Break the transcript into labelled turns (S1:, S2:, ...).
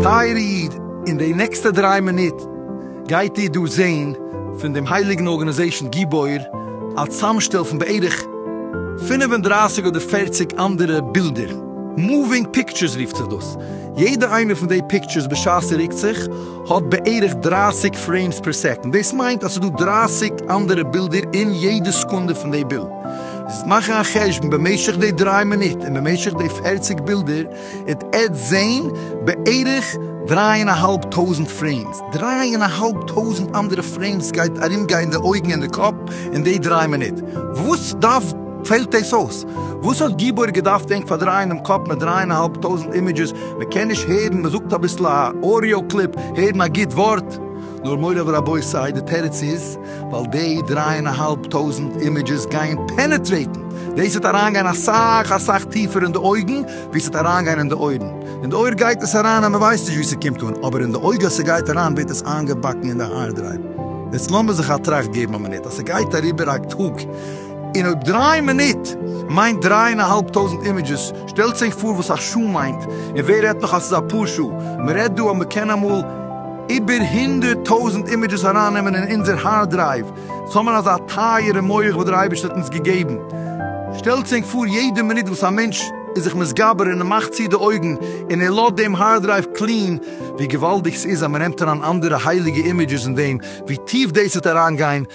S1: טייערע איד, אין די נעקסטע דריי מינוט גייט איר דא זען פון דעם הייליגן ארגאניזעישן גיבור א צאמשטעל פון בערך פֿינף און דרײַסיק אדער פֿערציק אנדערע בילדער, מאווינג פיקטשערס רופט זיך דאס, יעדע איינע פון די פיקטשערס בשעת ס'רוקט זיך, האט בערך דרײַסיק פרעימס פער סעקאנד, דאס מיינט אז ס'דא דרײַסיק אנדערע בילדער אין יעדע סעקונדע פון די בילד, זיס מאכן א חשבון במשך די דרײַ מינוט און במשך די פֿערציק בילדער איט עט זעהן בערך דרײַ און א האלב טויזענט פרעימס, דרײַ און א האלב טויזענט אנדערע פרעימס גייט ארומגיין די אויגן און די קאפ אין די דרײַ מינוט, וואס דארף. פעלט דאס אויס? וואס האט גיבור געדארפט ענק פארדרייען דעם קאפ מיט דריי און א האלב טויזנט אימעדזשעס, מען קען נישט הערן, מען זאגט אביסל א אודיאו קליפ, הערן א גוט ווארט. נאר מורי ורבותי, די תירוץ איז, ווייל דעי דריי און א האלב טויזנט אימעדזשעס גייען פענעטרעיטן, דאס וועט אריינגיין אסאך אסאך טיפער אין די אויגן ווי ס'וועט אריינגיין אין די אויערן, אין די אויער גייט עס אריין אז מען ווייסט נישט ווי ס'קומט אן, אבער אין די אויג אז ס'גייט אריין ווערט עס איינגעבאקן אין די הארד דרייוו. יעצט לאמיר זיך א טראכט געבן א מינוט, אז ס'גייט אריבער א טאג, און אויב דריי מינוט מיינט דריי און א האלב טויזנט אימעדזשעס, שטעלטס אייך פאר וואס א שעה מיינט, און ווער רעדט נאך אז ס'איז אפאר שעה, מ'רעדט דא אז מ'קען אמאל איבער הונדערט טויזנט אימעדזשעס ארייננעמען אין אונזער הארד דרייוו, ס'איז אמאל אזא טייערע מח וואס דער אייבערשטער האט אונז געגעבן, שטעלטס ענק פאר יעדע מינוט וואס א מענטש איז זיך מתגבר און ער מאכט צו די אויגן און ער לאזט דעם הארד דרייוו קלין, ווי געוואלדיג ס'איז אז מ'נעמט אריין אנדערע הייליגע אימעדזשעס און דעם ווי טיף דאס וועט אריינגיין.